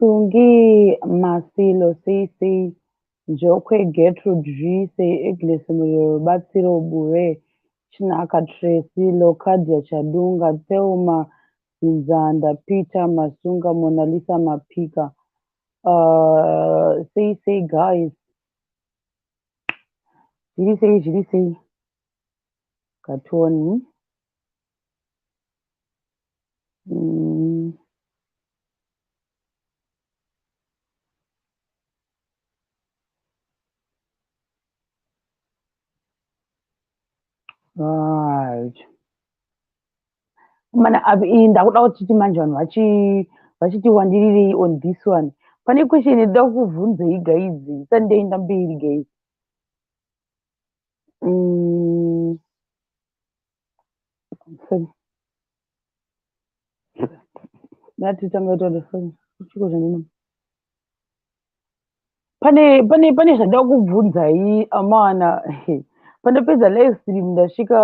Tungi, Masilo, Sei Sei, Njokwe, Getrude, Zhwii, Sei, Agnes, Muriro, Rubatsiro, Bure, Chinaka, Tracy, Locadia, Chadunga, Thelma, Dzinzanda, Peter, Masunga, Monalisa, Mapika, uh, Sei Sei, Guys, Zviri Sei, Zviri Sei, Katoni. Mm. Right. Mana abi ndakuda kuti manje vanhu vachi vachiti wandirirei on this one. Pane question ida kuvhunzei guys. Sunday ndambiri guys. Mm. Nati tanga ita the phone. Chiko zvanino. Pane pane pane zvada kubvunza yi amana. Pandapedza live stream ndasvika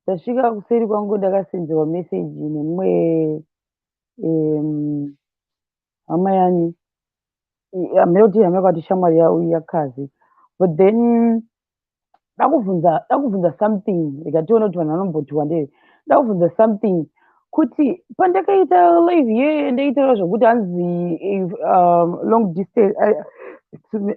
ndasvika kuseri kwangu ndakasenzewa message nemwe um hama yani hameno kuti hama yakati shamwari yakazi but then ndakubvunza ndakubvunza something rega tione kuti vanhu vanombotiwa ndee ndakubvunza something kuti pandakaita live ye ndaitaura zvokuti hanzi um, long distance I,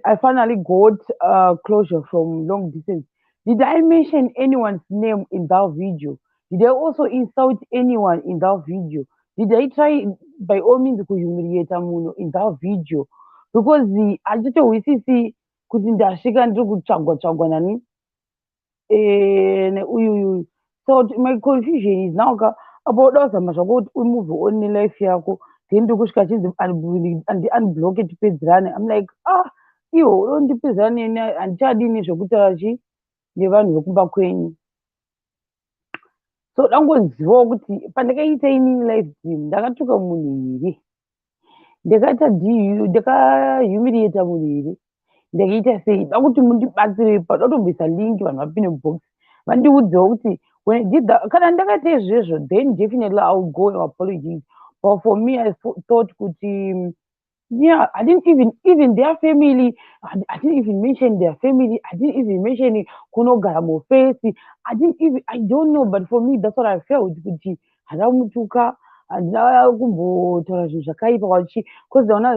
i finally got uh, closure from long distance did i mention anyone's name in that video did i also insult anyone in that video did i try by all means kuhumiliata munhu in that video because hatitohwisisi kuti ndasvika ndiri kutsvagwa tsvagwa nani eh, neuyu uyuyu so my confusion is now ka apa uda kuzama zvako kuti umove on nelife yako then ndokusvika chinzi andiunbloke tipedzerane im like ah iwo udo ndipedzerane neni handichadini zvekutaura chi nevanhu vekumba kwenyu so dangozivawo kuti pandakaita inini life dream ndakatuka munhu here ndakaita diu ndakahumiliata munhu here ndakaita sei da kuti mundibatsire ipa dotomboisa link vanhu vapine mubox vandiudzewo kuti kana ndakaita izvezvo then definitely iwill go apologies but for me i thought kuti yeah, I didn't even even their family. I, I didn't even mention their family. I didn't even mention it. Kunogara mufesi. I didn't even. I don't know. But for me, that's what I felt. Kuti hadamutuka handina kumbotaura zvinhu zvakaipa wachi bcause ndaona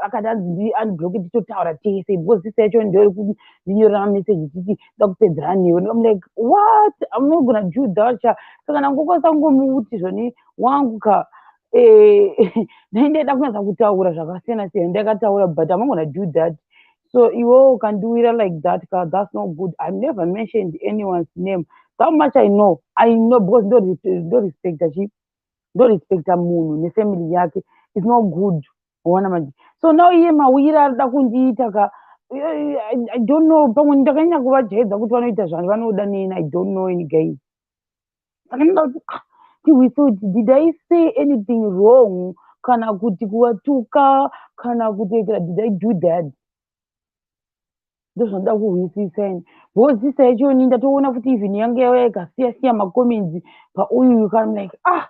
akati anzi ndi unblock titotaura tese because sisi yacho ndoiri kundinyorera mameseji titi ndakupedzera newe ndikam like what i'm not gonna do that saka ndangokwanisa kungomuti zvoni wangu ka eh, ndaindaida kunyaza kutaura zvakasiyana siyana ndakataura but i'm gonna do that so iwe ukandiwira like that ka that's not good i've never mentioned anyone's name how much i know i know because ndorespecta chi ndorespecta munhu nefamily yake it's not good ona manje so now iye mawira arida kundiita ka i don't know pamwe ndakanyanya kuvajaidza kuti vanoita zvani vanoda nini i don't know any guys saka ndinoda kuti ah, tihwise kuti did i say anything wrong kana kuti kuvatuka kana kutoitira did i do that ndozvanoda kuhwisisa ini bhozisa yachoni ndatoona kuti even yange yauya ikasiya siya macomments pauyu yukam like ah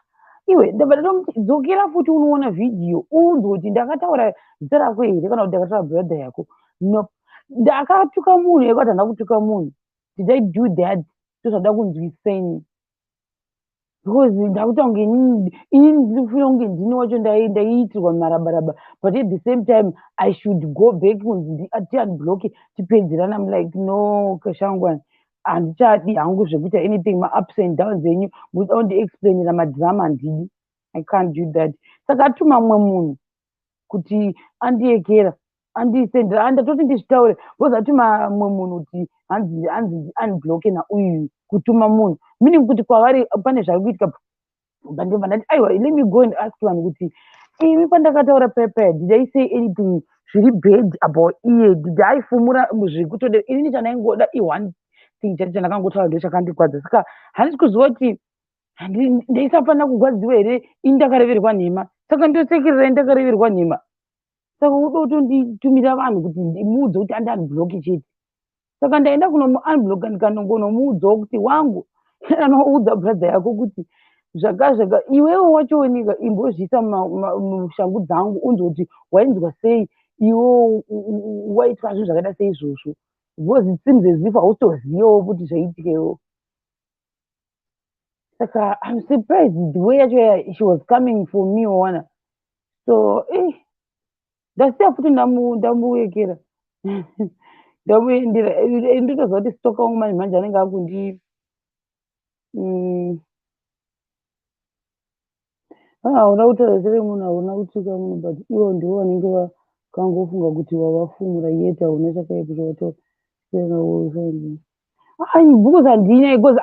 iwe ndabva ndatomuti dzokera futi unoona vhidhiyo uunzwe kuti ndakataura zita rako here kana kuti ndakataura brother yako no ndakatuka munhu yekuti handina kutuka munhu did i do that ndozvada kunzwiseni because ndakuta kunge ini ndinofira kunge ndini wacho ndaiitirwa marabaraba but at the same time i should go back kunzi tiunblocke tipedzerana am like no kashangwani handichadi hangu zvekuita anything maups and downs enyu muda kundiexplainira madrama handidi i can't do that saka atuma mumwe munhu kuti andiekera andisendera and ndatoti ndizvitaure bcause atuma mumwe munhu kuti hanzi hanzi unbloke nauyu kutuma munhu meaning kuti kwavari pane zvari kuitika bandova ndati aiwa let me go and ask vanhu kuti imi pandakataura pepe did i say anything zviri bad about iye did i fumura zvekutode inini chandaingoda i one thing chati chandakangotaura ndo chakandikwadza saka handisi kuziva kuti ndaisafanira kugwadziwa here ini ndakareverwa nhema saka ndosekerera ini ndakareverwa nhema saka uda kutonditumira vanhu kuti ndimuudze kuti andianbloki chete saka ndaenda kunomuanbloka ndikanongonomuudzawo kuti wangu anoudza bradha yako kuti zvakazvaka iwewo wachooneka imbozviisa mushangu dzangu unzwa kuti wainzwa sei iwo waitwa zvinhu zvakaita seizvozvo because it seems as if hautozivawo kuti zvaitika iwo saka i'm surprised the way yacho ya- she was coming for me wawana so eh, ndasiya futi ndamu- ndamuekera ndamuendera Eh, nditoziva kuti stoka wangu manje manje anenge akundi mm, hauna ah, kutaura zita remunhu hauna kutsvika munhu but ivo ndivo vanenge vakangofunga kuti wavafumura yet hauna chakaipa chawataura ai bhuku zandina because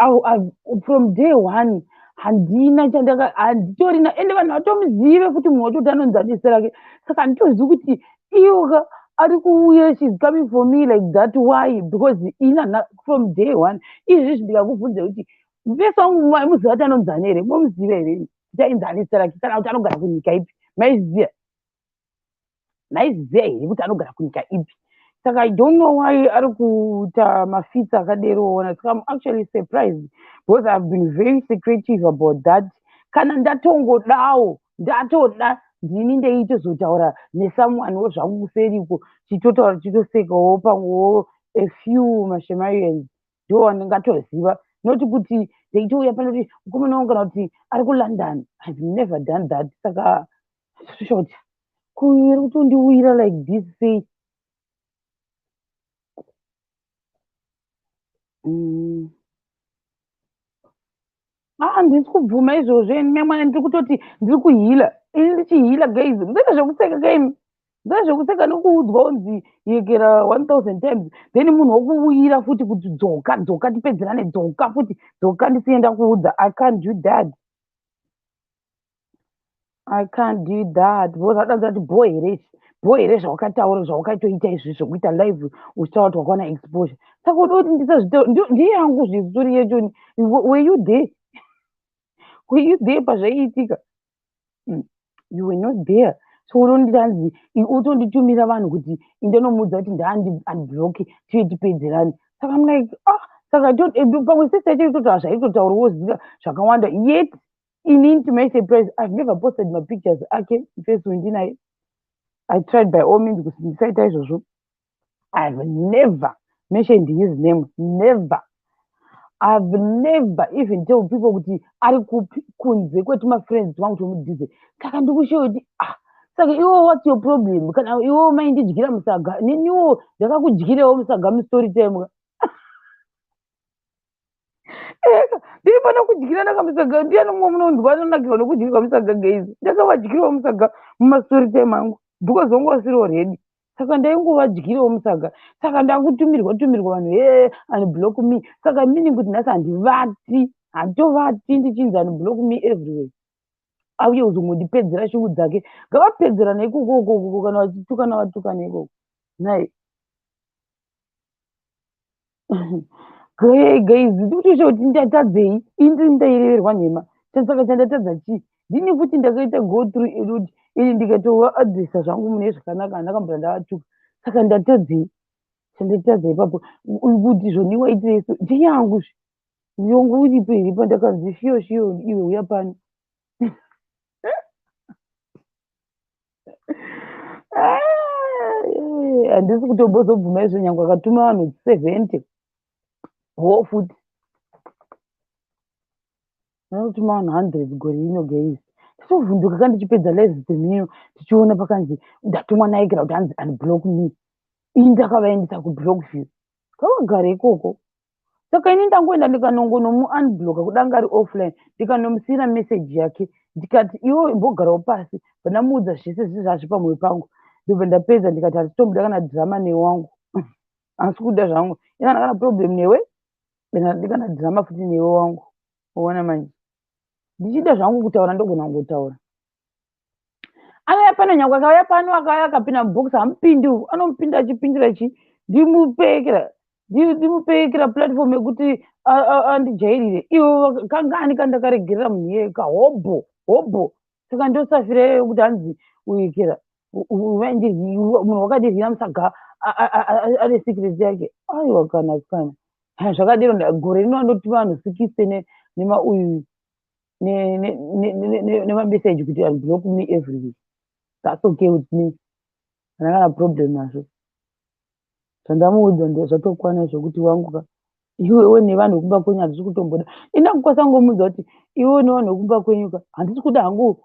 from day one handina chandaka handitorina ende vanhu vatomuzive futi munhu watoti anonzi adese rake saka handitozivi kuti iyoka ari kuuya shes coming for me like that why because ina from day one izvi zvindikakubvunza kuti Mufesi wangu muziva kuti anonzi ani here? Momuziva here? Kuti ainzi ani Saraki kana kuti anogara kunyika ipi? Maizviziva? Maizviziva here kuti anogara kunyika ipi? Saka I don't know why ari kuita mafitsi akadero ona. Saka I'm actually surprised because I've been very secretive about that. Kana ndatongodawo ndatoda ndini ndeitozotaura nesomeone wo zvangu kuseriko chitotaura chitosekawo pamwewo a few mashemarians ndo wandingatoziva not kuti ndaitouya pano kuti mukomana wangu kana kuti ari kulondon ihave never done that saka short kuiri kutondiwira like this sei mm. aa ah, ndisi kubvuma izvozvo ini memwana ndiri kutoti ndiri kuhila ini ndichihila guys musaita zvekuseka kaimi musaita zvekuseka nekuudzwa unzi yekera one thousand times then munhu wokuuyira futi kuti dzoka dzoka tipedzerane dzoka futi dzoka ndisienda kuudza i can't do that I can't do that because adanza kuti bho here izvi bho here zvawakataura zvawakaitoita izvi zvekuita live uchitaura kuti wakaona exposure saka uda kuti ndisazvita ndiye yangu zvisuri yechoni were you there were you there pazvaiitika hmm, you were not there so unonditanzi utonditumira vanhu kuti indenomuudza kuti ndaandiblocki tiye tipedzerani saka mlike ah saka eh, pamwe sese yacho itoti hazvaitotauriwo zika zvakawanda yet Inini to my surprise, I've never posted my pictures ake face wendinaye. I tried by all means kuti ndisaita izvozvo. I've never mentioned his name, never. I've never even told people kuti ari kupi kunze kweti mafriends wangu tomudhize. Saka ndikushowa kuti ah, saka iwo what's your problem? Kana iwo maindidyira musaga, neniwo ndakakudyirewo musaga mustory time. ndiri pano kudyirana kamusaga ndiyani mumwe munonzwa anonakirwa nokudyirwa musaga geizi ndakavadyirawo musaga mumastori time angu because wangu wasiri oredi saka ndaingovadyirawo musaga saka ndakutumirwa tumirwa vanhu he and block me saka meaning kuti nhasi handivati handitovati ndichinzi and block me everywhere auye kuzongondipedzera shungu dzake ngavapedzerana ikoko ukoko kana vachitukana vatukana ikoko nai guys ndikutoita kuti ndatadzei ini ndaireverwa nhema chasaka chandatadza chii ndini futi ndakaita go through eroad ini ndikatova adressa zvangu mune zvakanaka andakambura ndavatuka saka ndatadzei chandatadza ipapo kuti zvoniwa itireso ndeyangu zve ndiongo uripo here pandakanzi shiyo shiyo iwe uya pano handisi ah, kutombozobvuma izvo nyange akatuma vanhu seventy ho futi anotuma vanhu hundred gore ino gays titovhunduka ka ndichipedza live dzemino tichiona pakanzi ndatumwa naigera kuti hanzi unblock me ini ndakavaendesa kublock view kavagara ikoko saka ini ndangoenda ndikanongonomuunbloka kudanga ari offline ndikanomusiyira message yake ndikati iwo imbogarawo pasi vandamuudza zvese zvese zvazvi pamwoyo pangu ndobva ndapedza ndikati handitomuda kana drama newangu asi kuda zvangu ikana kana problem newe ndikana drama futi newe wangu uona manje ndichida zvangu kutaura ndogona kungotaura akauya pano nyangwe akauya pano akauya akapinda mubox hamupindi uku anomupinda achipindira chi ndimupekera ndimupekera platform yekuti andijairire ivo kangani kandakaregerera munhu iyeyo ka hobho hobho saka ndosafira iyeyo kuti hanzi uyikira munhu wakadirwira musaga ane secret yake aiwa kana kana zvakadiro gore rino anoti vanhu sikisene nemauyu nemameseji kuti unblock me every week thats okay with me hana kana problem nazvo zvandamuudza ndezvatokwana zvokuti wangu ka iwe iwe nevanhu vekumba kwenyu handisi kutomboda indakukwasa ngomuudza kuti iwe nevanhu vekumba kwenyu ka handisi kuda hangu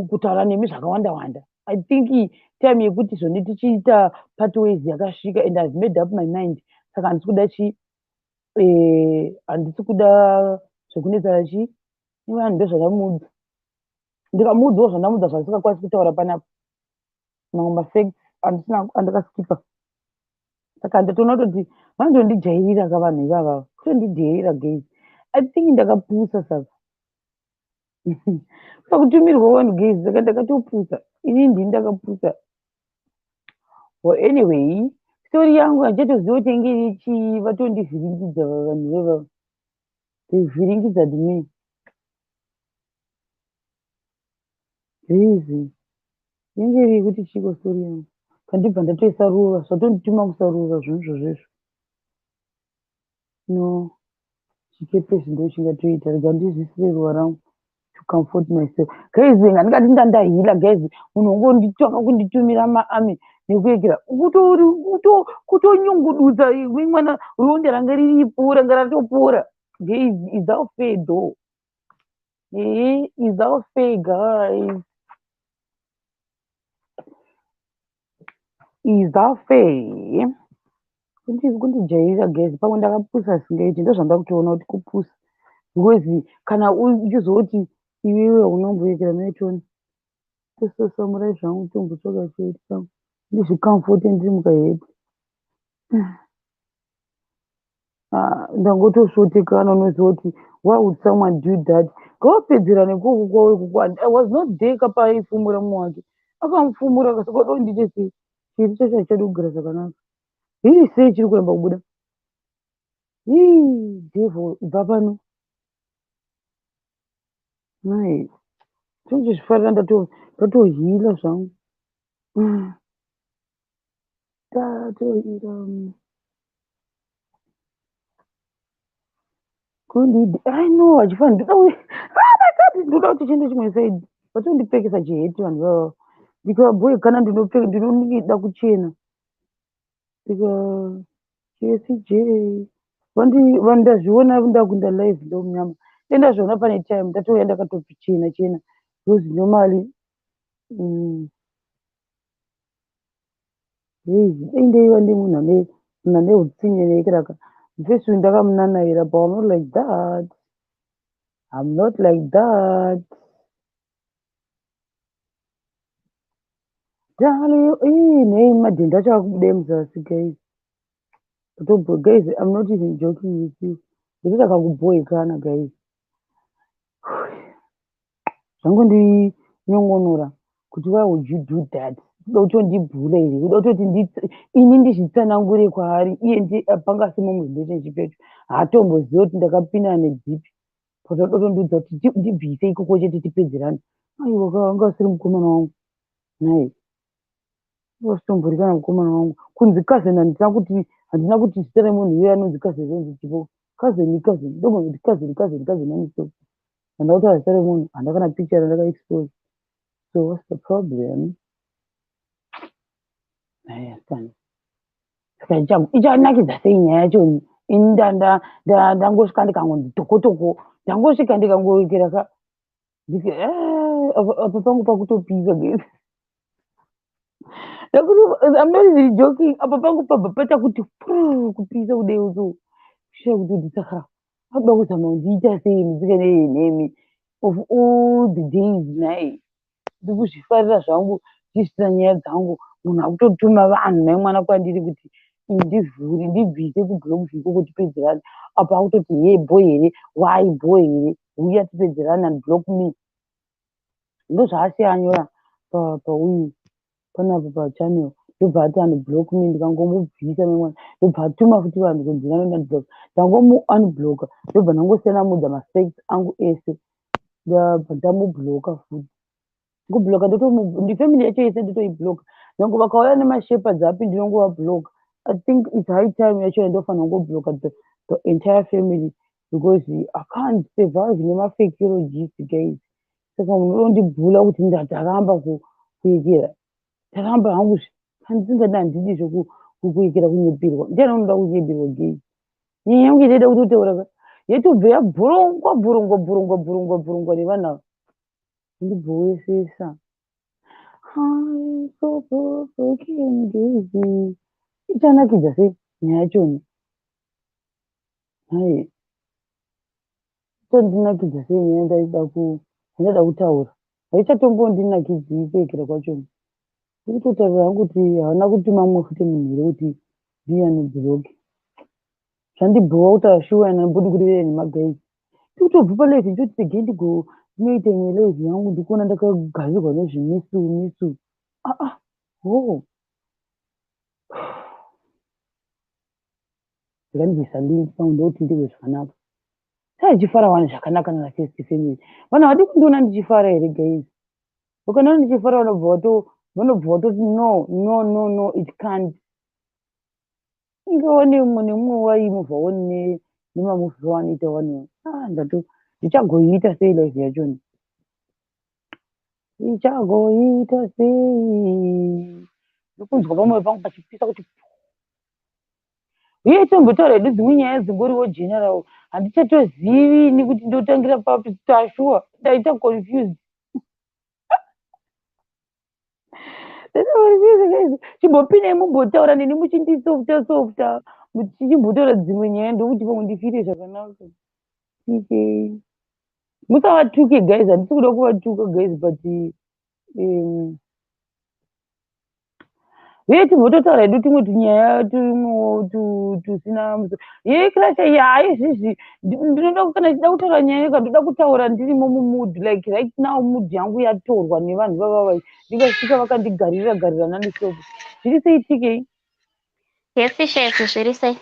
kutaura nemi zvakawanda wanda i think time yekuti zvone tichiita part ways yakasvika and ihave made up my mind saka handisi kuda chii eh, handisi kuda zvekunetsana chii vanhu ndozvandamudza ndikamuudzawo zvandamudza zvandisingakwanisi kutaura panapa mamwe mafacts andisina andakaskipa saka ndatoona kutoti vanondondijairira ka vanhu ivavava kutondidheerera gei i think ndakapusa saka pakutumirwa vanhu gezi saka ndakatopusa ini ndini ndakapusa o anyway stori yangu handichatoziva kuti yange iri chii vatondivhiringidza vavanhu vevavo ndivhiringidza dmi rizi yange iri yekuti chiiko stori yangu kandibva ndatoisa ruva zvatondituma kusarura zvinhu zvozvezvo No chikepe ichi ndochingatoita rega ndizviisire ruva rangu to comfort myself guys handingati ndandahila guys munhu wongonditanga kunditumira maami nekuekera kutonyungududza imwe mwana ronda ranga riripo ranga ratopora guys is our fair though ee is our fair guys izafe kundijairira gezi pamwe ndakapusa singaiti ndozvanda kutoona kuti kupusa because kana uchizoti iwewe unomboyekera maitoni tososamurai zvangu tombotsvaga chete ndizvikamfote ndiri mukaheti Ah, ndangotosvotekana unoziva kuti why would someone do that kawapedzera nekuku kwawe kuku and i was not there kapaifumura mumwe wake akamufumura akasaka do ndiite sei chiri chacho hachadi kugara zvakanaka hiri sei chiri kuramba kubuda hii devo ibva pano nai chonje zvifarira ndatohila zvangu ah. tatoira kundidi i know achifana ndida uye vakati ndinoda kuti chiende chimwe said vatondipfekesa chiheti vanhu vavo ndikava boy kana ndinopfeka ndinonida kuchena ndika jesj vandi vanhu ndazviona ndakunda live ndo munyama e ndazviona pane time ndatouya ndakatochena chena because normally mm, Heyi dai ndaiva nemunhu ane munhu ane hutsinye like raka mufesi uyu ndakamunanaira but I'm not like that I'm not like that Dali ii nei madhende acho akubuda muzasi guys Totobhoe guys I'm not even joking with you. Ndiri takakubhoekana guys. Zvangu ndi nyongonora kuti why would you do that? Kuda kuti ndibhula iri. Kuda kuti ndi ini ndizvitsanangure kwaari iye ndi panga asimo mu relationship yacho. Haatomboziva kuti ndakapinda nedzipi. Kuti kuda kuti ndiudza kuti ndibvise ikoko chete tipedzerane. Aiwa ka anga asiri mukomana wangu. Nhai. Ndosumburika namukomana wangu kunzi cousin handina kuti handina kuti zita remunhu iye anonzi cousin zvonzi chipo cousin cousin ndogona kuti cousin cousin cousin anisoko handina kutaura zita remunhu handina kana picture randaka expose so what's the problem naya asikana saka ichanakidza sei nyaya yacho ini ndangosvika ndikangonzi tokotoko ndangosvika ndikangoikira ka ndike "Ah, apa apa pangu pakutopisa guys ndakuti i'm not even joking apa pangu pabva paita kuti puu, kupisa kudeo so kushaya kuti kuti saka akuda kuzama kundiita sei musikana iye nemi of all the days nhai ndikuzvifarira zvangu ndichitira nyaya dzangu munhu akutotuma vanhu naye mwana kwandiri kuti ndivhure ndibvise kublogs ikoko tipedzerane apa akutoti hee bho here wai bho here huya tipedzerane and block me ndozvaasiyanyora pauyu panapo pachannel ndobva ati anoblock me ndikangomubvisa nemwana ndobva atuma futi vanhu kunzi vanoandblock ndangomuunblocka ndobva ndangosiyana mudza mafacts angu ese ndabva ndamubloka futi kubloka ndifamily yacho yese ndotoibloka nyange vakauya nemashepherds api ndinongova bloka i think its high time yacho yandofanira kungobloka the, the entire family because i can't survive nemafekero jisi guys saka munhu unondibvula kuti ndataramba kuekera taramba hangu handisingadi handidi zvekuekera kunyepirwa ndiani unoda kunyepirwa gei nyaya yangu inoita kuti utaura yetobve yabhurungwa bhurungwa bhurungwa bhurungwa bhurungwa nevanavo Ndibhoesesa. Ichanakidza sei nyaya yachoni? Nhai. Ichandinakidza sei nyaya ndaida ku ndaida kutaura. Haichatombondinakidzi kuekera kwachoni. Ndikutotaura hangu kuti hauna kutuma mumwe futi munhu here kuti ndiani block. zvandibhowa kutaura shuwa and handibodi kurevera nemagays tikutobva palife ndichoti regai ndigo ndinoita imwe live yangu ndikuona ndakagadzirwa nezvimisu misu aa ah, ho oh. zvikandiisa link pangu ndokuti ndizvo zvakanaka saichifara wani zvakanaka nana first family vana vadi kundiona ndichifara here guys ukanaona ndichifara vanobva vato vanobva vatoti no no no no it can't inge wani mumwe nemumwe waimubva wani nemamuvi vawanoita wani ah, ndato ndichagoiita sei life yachoni ndichagoiita sei ndokunzwa pamwe pangu pachipisa kuti uye itombotaura hedu dzimwe nyaya dzingoriwo general handichatozivi ini kuti ndotangira papi tashuwa ndaita confused chimbopinei mumbotaura neni muchindisofta softa muchichimbotaura dzimwe nyaya ndokuti pamwe ndifire zvakanaka musavatuke guys handisi kuda kuvatuka guys but um, uye timbototaura hedu tumwe tunyaya tusina muso ye kirasha iya haizvizvi ndinoda kana chida kutaura nyaya yeka ndoda kutaura ndirimo mumud like right now mud yangu yatorwa nevanhu vavavai ndikasvika vakandigarira garira nanisopo zviri sei tikei yesi shefi zviri sei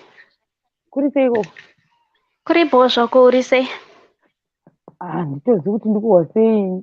kuri sei ikoko kuri bho zvako uri sei handitozivi ah, kuti ndikuhwa sei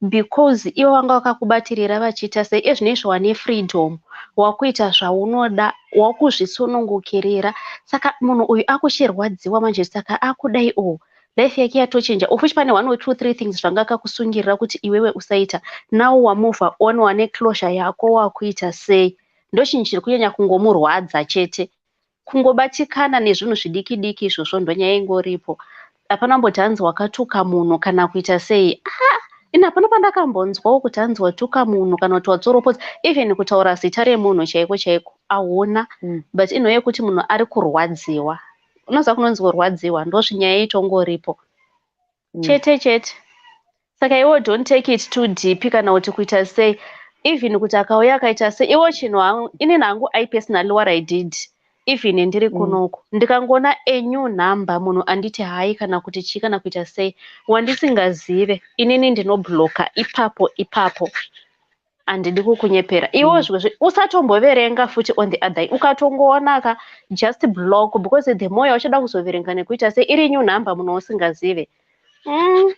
because iwe wanga wakakubatirira vachiita sei ezvinoizvo wane freedom wakuita zvaunoda wakuzvisunungukirira saka munhu uyu akuchirwadziwa manje saka akudai o oh, life yake yatochinja of which pane one or two three things zvanga akakusungirira kuti iwewe usaita now wamove on wane closure yako wakuita sei ndochinhu chiri kunyanya kungomurwadza chete Kungobatikana nezvinhu zvidiki diki izvozvo ndonyaya ingoripo. Hapana kumboti hanzi wakatuka munhu kana kuita sei. Ah! Ini hapana pandakambonzwawo kuti hanzi watuka munhu kana kuti watsoropodza even kutaura zita remunhu chaiko chaiko ahuna mm. but inhoyo yekuti munhu ari kurwadziwa unoziva kunonzi kurwadziwa ndozvinyaya itongoripo mm. chete chete saka iwo don't take it too deep kana kuti kuita sei even kuti akauya akaita sei iwo chinhu hangu ini nangu i personally what i did even ndiri mm. kunoku mm. ndikangoona enew number munhu anditi hayi kana kuti chii kana kuita sei wandisingazive inini ndinobloka ipapo ipapo handidi kukunyepera iwo mm. zvimwe usatomboverenga futi on the other ukatongoonaka just block because the more yauchada kuzoverenga nekuita se iri new number munhu usingazive mm.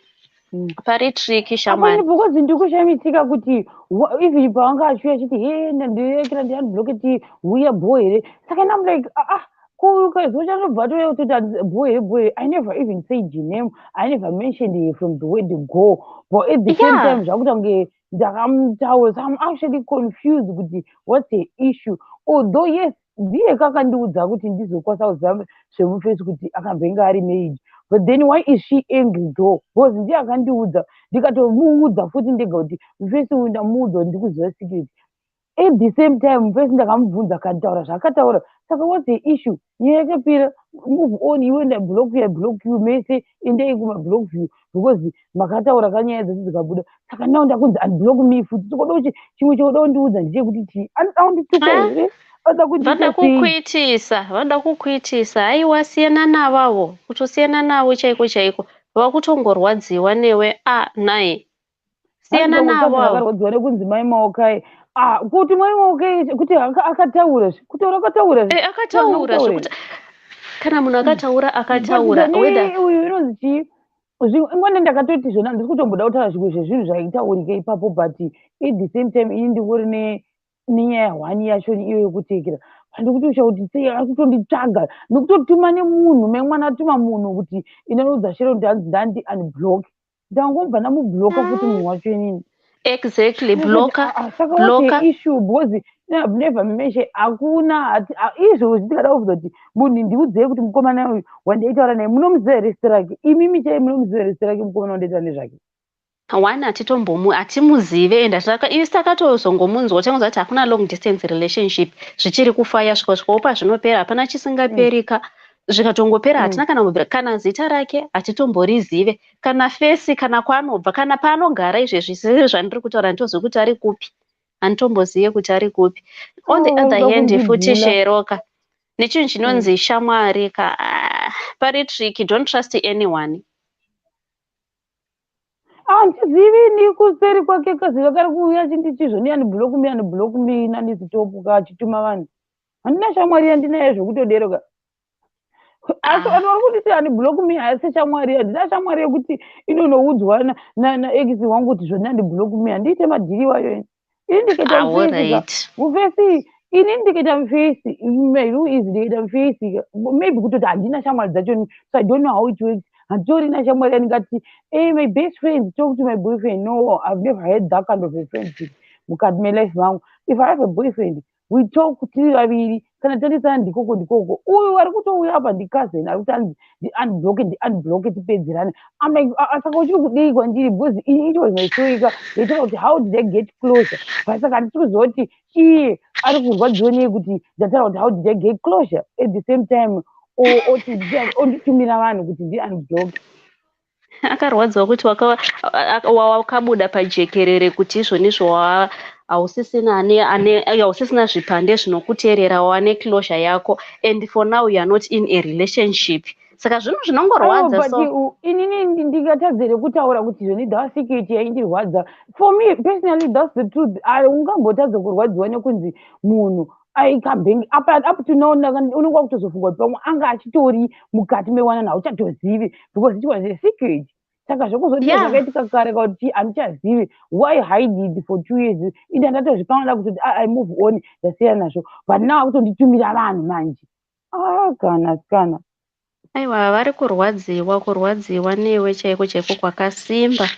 mm. pari triki shamani because ndikushamisika kuti even paanga achiuya achiti he ndandirekera ndiandibloketi huya bho here saka nam like ah, ah kuzochazobva tove kutoti boe boe i never even said your name i never mentioned from the way to go but at the same time zvakuita kunge yeah. ndakamutaura so i'm actually confused kuti what's the issue although yes ndiye kakandiudza kuti ndizokwanisa kuziva zvemufesi kuti akambenge ari maid but then why is she angry though because ndiye akandiudza ndikatomuudza futi ndega kuti mufesi uyu ndamuudza kuti ndikuziva security At the same time, first ndakamubvunza akataura zvaakataura. Saka what's the issue? Nyaya yakapera, move on, iwe nda block you, I block you, mese endai kuma block you because makataura kanyaya dzese dzikabuda. Saka now ndakunzi unblock me futi. Tikoda kuti chimwe choda kundiudza ndechekuti chii? Anoda kundituka ah, here? Vanoda kukuitisa, vanoda kukuitisa. Haiwa siyana navavo, kutosiyana navo chaiko chaiko. Vakutongorwadziwa newe, ah, naye. siyana navo vakarwadziwa nekunzi mai maokai ah, kuti mai maokai kuti akataura kutaura akataura eh, akataura zvekuti kana munhu akataura akataura uyu inonzi chii ingone ndakatoti zvona ndiri kutomboda kutaura zvimwe zvezvinhu zvaitaurika ipapo but at the same time ini ndingori nenyaya hwani yacho iyo yekutekera handikuti uchakuti sei ari kutonditsvaga nekutotuma nemunhu memwana atuma munhu kuti inoudza shero kuti hanzi ndandi unblock ndangobva ndamubloka futi munhu wacho inini exactly bloka ah, ah, saka bloka issue because i've never mentioned hakuna izvo zvitikada kuvuza kuti munhu ndiudzei kuti mukomana uyu wandaitaura naye munomuziva here zita rake imimi chai munomuziva here zita rake mukomana wandaitaura nezvake one hatitombomu hatimuzive and hatiraka isi takatozongomunzwa changonzwa kuti hakuna long distance relationship zvichiri kufaya svika svika upa zvinopera hapana chisingaperika mm. zvikatongopera hatina kana kubvira kana zita rake hatitomborizive kana fesi kana kwaanobva kana paanogara izvezvi sese zvandiri kutaura handitozivi kuti ari kupi handitombozive kuti ari kupi on the oh, other hand futi sheroka nechinhu chinonzi mm. shamwari ka ah, pari tricky don't trust anyone handizivi ah, ni kuseri kwake kaziva kari kuuya chindichizvo ni anibhuloku mi anibhuloku mi nanizitopu ka achituma vanhu handina shamwari yandinayo zvekutodero ka asi vanhu ah. vari kunditi ani block me haasi shamwari handina shamwari yekuti inonoudzwa naex wangu kuti zvandandi block me handiite madhiri wayo ini ini ndikaita ah, mufesi mufesi ini ndikaita mufesi mairu izi ndikaita mufesi maybe kutoti handina shamwari dzacho so i don't know how it works handitorina shamwari yandingati hey eh, my best friend talk to my boyfriend no i've never had that kind of a friendship mukati melife mangu if i have a boyfriend we talk tiri vaviri kana tandisana ndikoko ndikoko uyu ari kutouya apa ndicousin ari kuti anzi ndiunbloke ndiunbloke tipedzerane am like ah, ah, saka uchiri kudii kwandiri because it was my storyka yaitaura kuti how did i get closer but saka handisi kuziva kuti iye ari kurwadziwa nei kuti ndataura kuti how did i get closer at the same time onditumira vanhu kuti ndiunbloke akarwadziwa kuti wakabuda pajekerere kuti izvo nizvo hausisina ane ane hausisina zvipande zvinokuteerera wane closure yako and for now you are not in a relationship saka zvinhu zvinongorwadza oh, so inini ndingatadze rekutaura kuti zvoni that security yaindirwadza for me personally that's the truth ungambotadza kurwadziwa nekunzi munhu aikabhengi apa up to now unenge wakutozofunga kuti pamwe anga achitori mukati mewanana hauchatozivi because it was a secret saka zvekuzoti yeah. zvakaitika kare kauti handichazivi why hided for two years inde ndatozvipanada kutoti i move on ndasiya nazvo but now akutonditumira vanhu manje Ah, kana sikana. Aiwa vari kurwadziwa kurwadziwa newe chaiko chaiko kwakasimba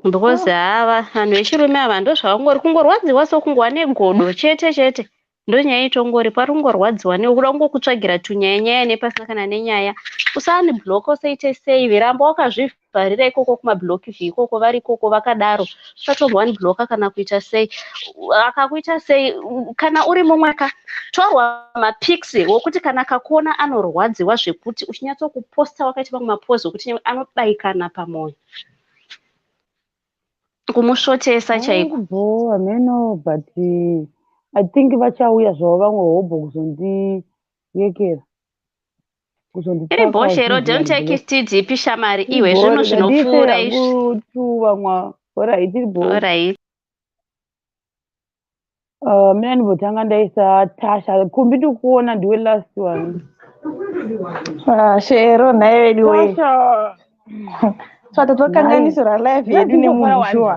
because hava vanhu vechirume ava ndozvavangori kungorwadziwa so kungova negodo chete chete ndonyaya itongori pari kungorwadziwa newe kuda kungokutsvagira tunyaya nyaya nepasina kana nenyaya usani block usaite save ramba wakazvivhara vharira ikoko kumablock vhi ikoko vari ikoko vakadaro usatorwa one blocker kana kuita sei akakuita sei kana uri mumwe ka torwa mapics wokuti kana akakuona anorwadziwa zvekuti uchinyatsokuposta wakaita mamwe mapozi okuti anobayikana pamwoyo kumusvotesa chaiko bhowa meno but i think vachauya zvavo vamwe hobho kuzondiyekera iri bhosha iro don't take it tdp shamari iwe zvinhu zvinopfuura izviorit uh, mina ndibotanga ndaisa tasha kumbi ndikuona ndiwe last one ah, shero nhaye vedu we twatotokanganisira live yedu nemunhu shuwa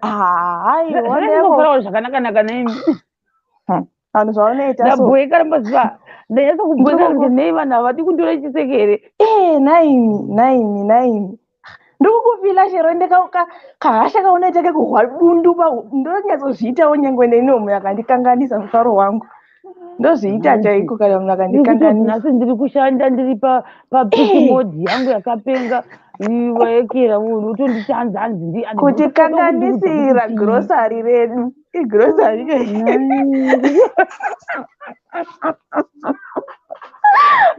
haiwa zvakanaka naka nemi vanhu zvavanoita ndabhoeka rambaziva ndanyasa kubhoeka kuti nei vanhu havadi kundora chisekere ee eh, naimi naimi naimi ndokukufila chero ndekahasha kaunoita kekuhwa dundu ndonyatsozviitawo nyangwe neni omunhu akandikanganisa mufaro wangu ndozviita chaiko kana munhu akandikanganisa ndiri kushanda ndiri papisimodhi yangu yakapenga vaekera munhu utonditanza hanzi ndikutikanganisira grosari redu igrocery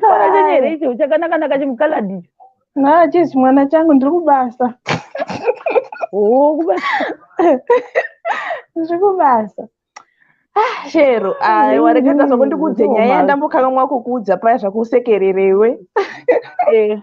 mwana chenyu here icho chakanakanaka chimukaladi na chisi mwana changu ndiri kubasa oh, kubasa ndiri kubasa ah, shero aiwa reketa zvakundiudze nyaya yandambokanganwa kukuudza paya zvakusekererewe eh.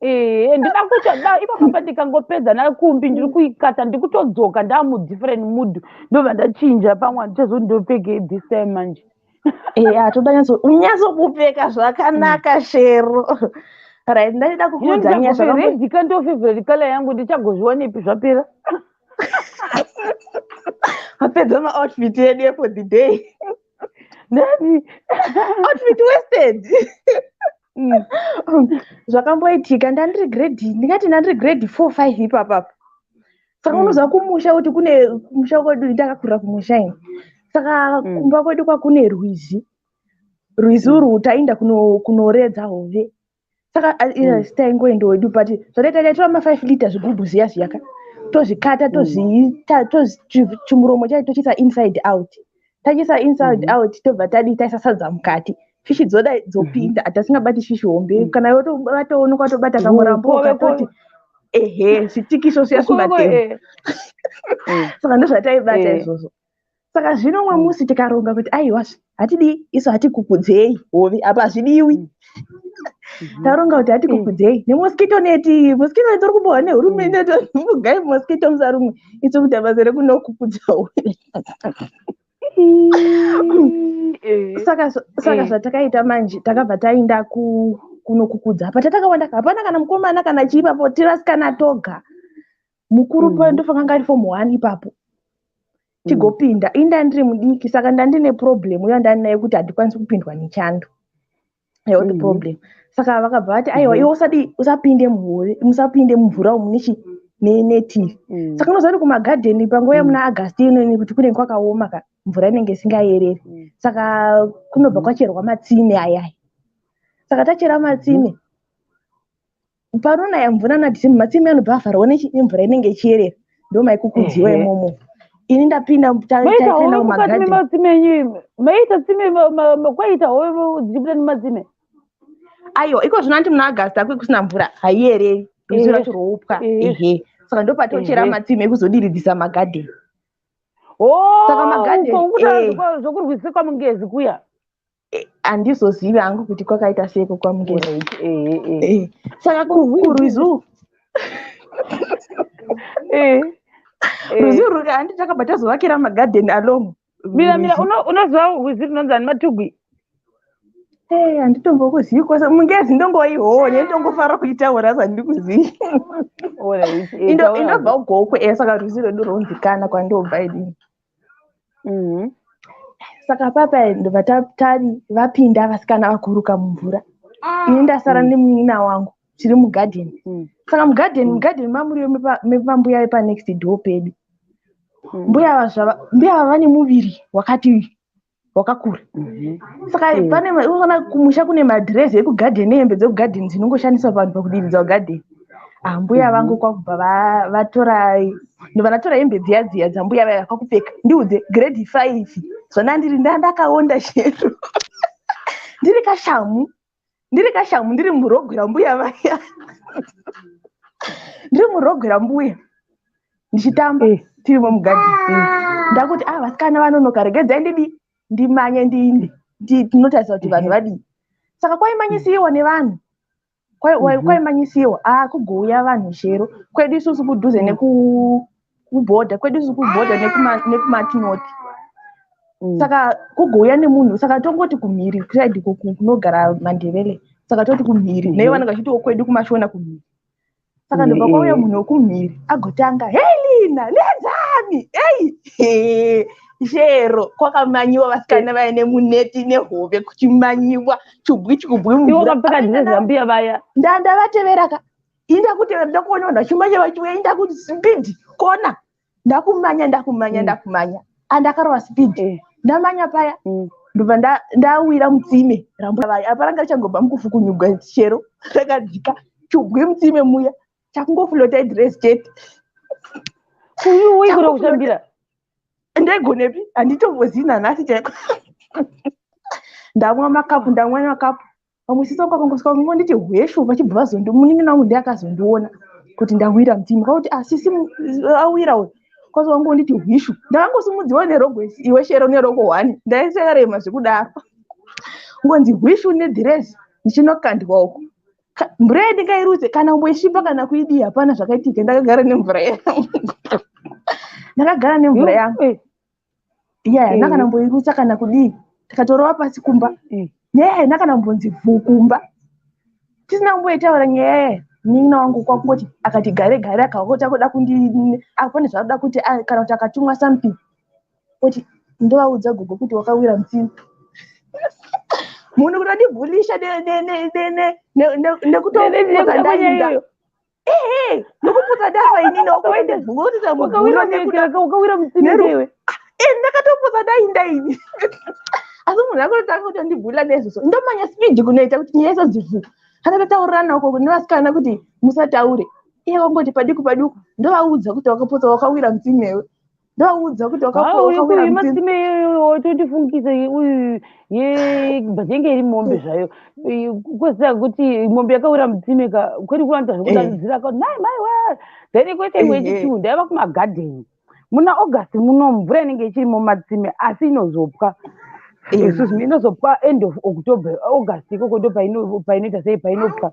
Eh, ndida kuita da ipapo pandikangopedza nakumbi ndiri kuikata ndikutodzoka ndamu different mood ndobva ndachinja pamwe handichazo ndopfeke this time manje eh atoda nyatso unyatso kupfeka zvakanaka mm. shero right ndaida kukuudza nyaya zvakaidi ka ndo favorite color yangu ndichagozviwanepi zvapera apedza ma outfit yedu for the day nani outfit wasted mm. zvakamboitika ndandiri grade ndingati ndandiri grade four five ipapapa saka mm. unoziva kumusha kuti kune kumusha kwedu ndakakurira kumusha ini saka mm. kumba kwedu kwakune rwizi rwizi mm. urwu taienda kunoredza hove saka mm. taingoenda wedu but zvataita taitora mafive liter zvigubhu ziya zviyaka tozvikata tozviita tochimuromo chai tochiisa inside out mm. tachiisa inside mm -hmm. out tobva tadii taisa sadza mukati fishi dzoda dzopinda mm -hmm. atasingabati fishi hombe mm -hmm. kana yotobataono kwatobata kamurambo katoti ehe zvitikiso siya sumatema eh. mm. saka ndozvataibata eh. izvozvo saka zvino umwe mm. musi tikaronga kuti aiwazve hatidii isu hatikukudzei hovi apa hazvidiwi mm. Mhm. taronga kuti ati kukudzei nemosquito neti mosquito neti uri kumbohwa nehurumende mugai mosquito musarumwe isu kuita basa rekunokukudzawo eh. saka saka eh. zvatakaita manje takabva taenda kunokukudza apa tatakawanda hapana kana mukomana kana chii papo tirasikana toga mukuru mm -hmm. payo ndofanira kunge ari form one ipapo mm. tigopinda mm. ini ndandiri mudiki saka ndandine problem uyo ndandinaye kuti handikwanisi kupindwa nechando health mm -hmm. problem saka vakabva vati aiwa mm -hmm. iwe usadi usapinde muhure musapinde mumvura umu nechi netivi mm. saka unoziva kuti kumagadheni panguva yemuna mm. agasti inoni kuti kunenge kwakaoma ka mvura inenge isingayereri mm. saka kunobva mm. kwacherwa matsime ayaya saka tachera matsime mm. Panonaya mvura nadzimu matsime anobva avharwa nemvura inenge ichiyerera ndomaikukudziwa Ehe. imomo. Ini ndapinda ta- Maita taipinda hove mukati mumagadhi. mematsime enyu maita tsime ma- ma- ma- kwaita hove dzichibuda nematsime Aiwa, iko zvino anti muna August akwe kusina mvura haiyereri. Ruzivo Ehe. racho rwoupwa. Ehe. Ehe. Saka ndopatochera Ehe. matsime ekuzodiridzisa magadhi. Saka magadhi- uko ukuta eh. zvekurwisika mungezi kuya handizozivi hangu kuti kwakaita seiko kwamukeza eh, eh, eh. saka kurwizu ruzi ruri handi takabva tazovakira magadhen along mira mira unoziva rwizi runonzi ani matugwi handitombokuzivi kwese mungezi ndongoione ndongofara kuitaura sandiri kuzivi indobva ugokwe saka rwizi rwedu ronzikana kwandobva idini Mhm. saka papa ndobva ta- tari vapinda vasikana vakuruka mumvura ini ndasara Mm. nemunin'ina wangu tiri mugadheni Mm. saka mugadheni Mm. mugadheni mamuriwo mepa- mepambuya vepanext door pedu Mm. mbuya ava zvava- mbuya ava vane muviri wakati wakakura saka pane unoona kumusha kune madhirezi ekugadheni nehembe dzekugadheni dzinongoshandiswa vanhu pakudiridza ugadheni ambuya mhm. vangu kwakubva vatora vanatora hembe dziya dziya dzambuya vaya kwakupfeka ndiudze grade five zvandandiri ndandakaonda chero ndiri kashamu ndiri kashamu ndiri murogwi rambuya vaya ndiri murogwi rambuya ndichitamba eh. tiri vomugadhi eh. ndakuti a ah, vasikana vanonoka regedzai ndidi ndimanye ndiinde ndinotarisa kuti vanhu eh. vadii saka kwaimanyisiwa nevanhu mhm. kwaimanyisiwa a ah, kugouya vanhu shero kwedu isusu kudhuze mm. kuborder kwedu isi kuborder nekumatinoth mm. saka kugouya nemunhu saka tongoti kumhiri kusaidi kunogara mandevele saka toti kumhiri mm-hmm. nei vanenge vachitiwo kwedu kumashona kumhiri saka mm-hmm. ndobva kwauya munhu wekumhiri agotanga hei lina nedzani ei chero kwakamanyiwa vasikana vaya nemuneti nehove kuchimanyiwa chubwi chikubwi mvura vakapfeka dzinezambiya vaya ndandavatevera ka inda kutera ndakuona vanhu vachimanya vachiuya inda kuti speed kona ndakumanya ndakumanya mm. ndakumanya andakarova speed eh. ndamanya paya mm. ndobva ndawira mutsime rambuavaya apa ranga richangobva mukufukunyugwa chero rakadzika chubwe mutsime muya chakungofulota idres chete uyuwi kuda kutambira ndaigonepi handitombozivi nanhasi chaiko ndamwa makapu ndamwa makapu pamwe sisi vangu vakangosvika vakangonditi hweshu vachibva vazondi munin'ina wangu ndiye akazondiona kuti ndawira mtima kwakuti ah sisi mu- awira uyu kwazo vangonditi hwishu ndakangosimudziwa nerogo isi- iwe shero nerogo hwani ndaisekarema zvekudaro ngonzi hwishu nedhirezi ndichinokandwa uku Ka- mvura yedu ngairutse kana umboishipa kana kuidii hapana zvakaitika ndakagara nemvura yangu ndakagara nemvura yangu Eh, iya haina kana mboirutsa kana kudii tikatorova pasi kumba nyaya haina kana mbonzi vhuu kumba tisina kumboitaura nyaya yaya munin'ina wangu kwakungoti akati gare gare akaota kuda kundi apane zvaanoda kuti kana kuti akatumwa something oti ndovaudza gogo kuti wakawira mutsini munhu kunodibhulisha nekutoaaiyo ehe nokuputsa dava inini wakaenda zvinoita muguro ukawira mutsindewe eh ndakatoputsa dai ndaini asi munhu akototanga kuti andibhula nezviso ndomanya speed kunoita kuti nyaya isazivu anatotaurirana uko kune vasikana kuti musataure iye wangoti padiku padiku ndovaudza kuti wakaputsa wakawira mutsindewe ndoudzwa kuti wakauyamasime iyoyo totifungisa uyu yebhajenge iri mombe mm. zvayo kwesaka kuti mombe yakawira mutsime ka kwete kuwanza zvekudaidzira eh. ka mai mai wa then kwete imwe yechichiwu eh. ndaiva kumagadheni muna august muno mvura inenge ichiri mumatsime asi inozopwa eh. excuse me inozopwa end of october august ikoko ndo painoita sei painopwa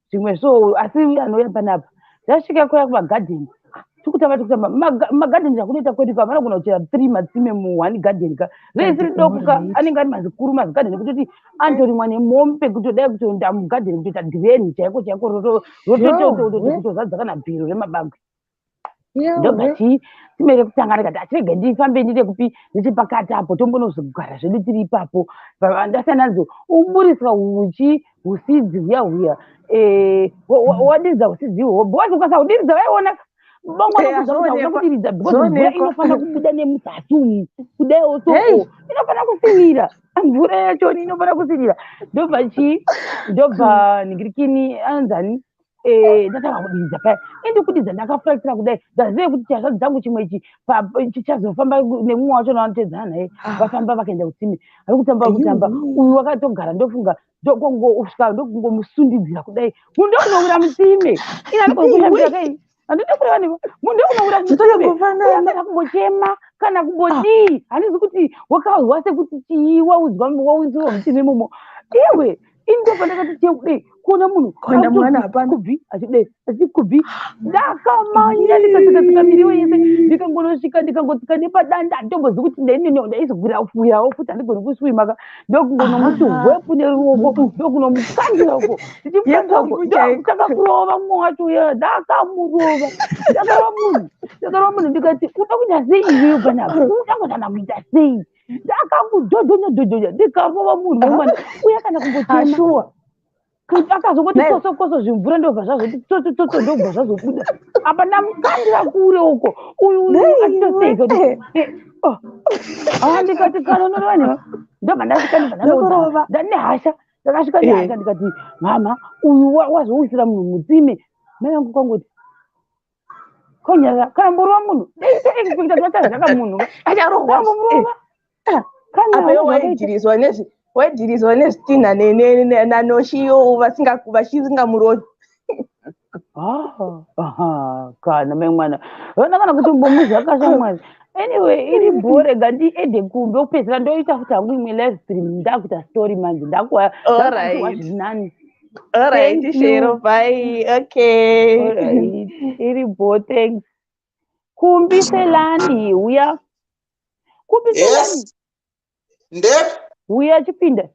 zvimwe so asi anouya panapa zvasvika kuya kumagadheni tikutamba tikutamba magadheni zvakunoita kwedu pa vanogona kuchera three matsime muone gadheni ka veisiri dokuka anenge ari mazikuru mazigadheni kutoti anotorimwa nemomi pekutodai kutoenda mugadheni kutoita dhireni chaiko chaiko rototozadza kana bhero remabagwe ndobva timere kusangana kati achirege ndifambe ndiite kupi ndiche pakati apo tombonozogara zvedu tiri ipapo ndasiyana nadzo uburiswa uchi usidzi huya huya eh, wadiridza usidzi ihoho bhozi ukasa udiridza vaiona bongo nokuzaaa kudiridza because mvura inofanira kubuda nemuzasi umu kudai oso inofanira kusinira mvura yacho inofanira kusinira ndobva chii ndobva nigirikini anzani Eh, ndatanga kudidza paya ende kudidza ndakafuraisira kudai ndazive kuti chazvadzi dzangu chimwe ichi chichazofamba nemumwe wacho navanotedzana naye ah. vafamba vakaenda kutsime ari kutamba kutamba uyu wakatogara ndofunga ndokongousvika ndokungomusundidzira kudai mundokunowira mutsime inanikokuakai handidi kureva newe munhu ndekunobuda kumusana kumbochema kana kumbodii ah. handizi kuti wakahwa sekuti chii waudzwa waudzirwa muchini imomo iwe ini ndopandakati chie kudei kuona munhu kuenda mwana hapana kubvi achidei achikubvi ndakamanya ndikasikatsika miriwo yese ndikangonosvika ndikangotsika nepadanda handitombozi kuti ndaineneo ndaizogwira fuyawo futi handigoni kuswimaka ndokunomuti hwepu neruoko ndokunomukandira uko ndichimukandira uko ndokutanga kurova mumwe wacho uya ndakamurova ndakarova munhu ndakarova munhu ndikati uda kuita sei iweyo panapa uda kutanga kuita sei ndakamudhodhonya dhodhonya ndikarova munhu wemwana uya kana kumbochema kuti akazongoti koso koso zvimvura ndobva zvazoti tsotso tsotso ndobva zvazobuda apa ndamukandira kure uko uyu atitoseiko andikati kanonorani ndobva ndasvikandibva ndane hasha ndakasvika eh. nehasha ndikati mama uyu wazowisira munhu mutsime mai vangu kwangoti konyaya kana murova munhu zvaka munhu acharohwa murova apa waidhirizwa nezvi waidhirizwa nezvitinha nanoshiyo vasingamurovi ah, kana mai mwana vana kana kuti mbomuzvakasha mwana anyway iri bhore ga ndiende kumbi okupedzisira ndoita futi hangu imwe live stream ndakuita story manje ndakuwa nani All right, Thank Shero, you. bye. Okay. All right. Iri bho, thanks. Kumbi Selani, huya. Kumbi Selani, Yes. Nde huya chipinda.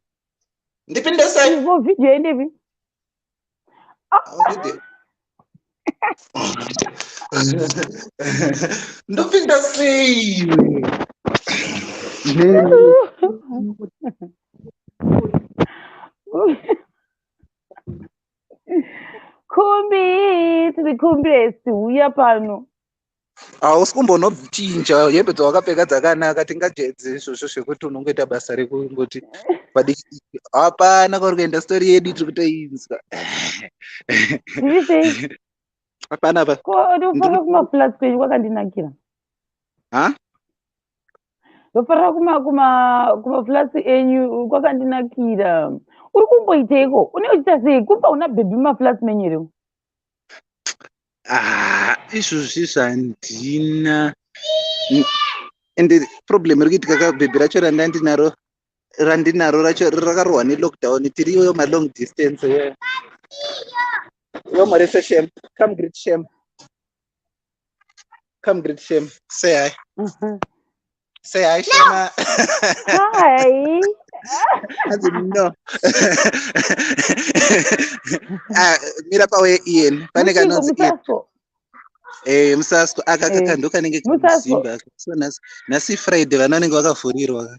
ndipinde sei? Ivo video yendepi? Ndipinde. ndopinda sei khumbi tiri khumbesi huya pano hausi kumbonochinja hembe dzawakapfeka dzakanaka tingajedze izvozvo zvekuti unongoita basa rekungoti padikidiki hapana kwauri kuenda stori yedu tiri kutoinzwa hapana pa ndofanira kumaflats kwenyu kwakandinakira ha ndofanira kumaflats enyu kwakandinakira uri kumboiteiko une uchita sei kumba una bhebhi mumaflats menyu here ah, izvozvi zvandina and problem iri kuitika ka bhebhi racho randa ndinaro randinaro racho rakarohwa nelockdown tiri iyoyo malong distance yo marise shem come greet shem come greet shame say hi mm -hmm. say hi shema hi hanzi no ah, mira pawe ian pane kanonzi ian Eh, musasko aka kaka eh, ndokanenge kuzimba so nhasi friday vana vanenge vakavhurirwa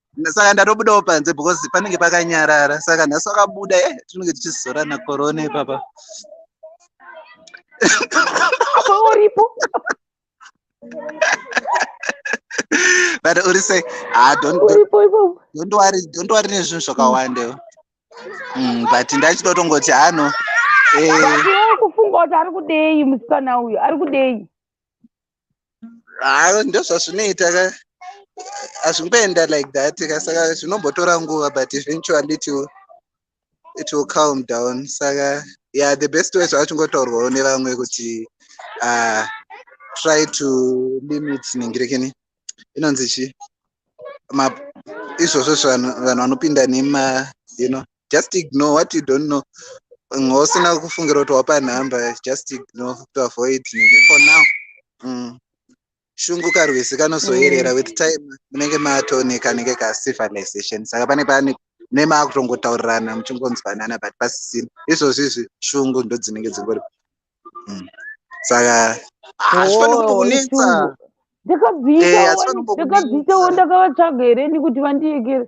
saka ndatobudawo panze because panenge pakanyarara saka nhasi wakabuda e eh, tinenge tichizorana korona ipapa apa uripo but uri sei ah, don't worry nezvinhu zvakawandewo mm, but ndachitotongoti ano eh. kufunga kuti ari kudei musikana uyu ari kudei ah, ndozvazvinoita ka hazvingoenda like that ka saka zvinombotora nguva but eventually it will, it will calm down saka yeah the best way zvachingotaurwawo nevamwe kuti uh, try to limit ningirekeni inonzi chi izvozvo zvanhu vanhu vanopinda nema you know just ignore what you don't know usina kufungira kuti wapa nhamba just ignore to avoid for now mm. shungu karwizi kanozoyerera mm. with time munenge matone kanenge ka civilization saka pane pane ne maakutongotaurirana muchingonzwanana but pasisina izvozvi izvi shungu ndo dzinenge dzingori mm. saka hazvifani oh, kutokunetsa ndakadziitawo eh, ndakavatsvaga here nekuti vandiyekere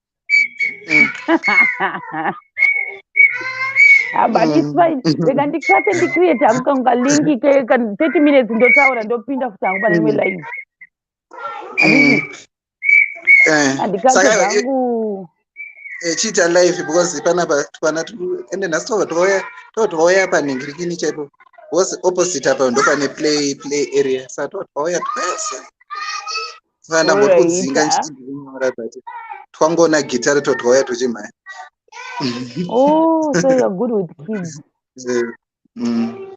mm. Ah, but it's mm. fine rega ndikate ndicreate hangu kangu kalinki keka 30 minutes ndotaura ndopinda futi hangu pane imwe live handikate hangu echiita live because panapa twana ende nhasi tova tova panhingirikini chaipo because opposite apa ndopane play play area sa tova tova twese ndambotudzinga ndichinyora but twangoona gitare totwauya tuchimhaya oh so you're good with kids eh, mm.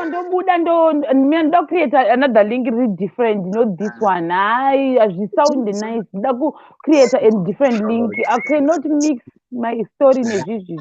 ndobuda ndoda kucreate another link ri different no this ah. one hayi hazvisound nice ndoda kucreate a different link i cannot mix my story nezvizvizvi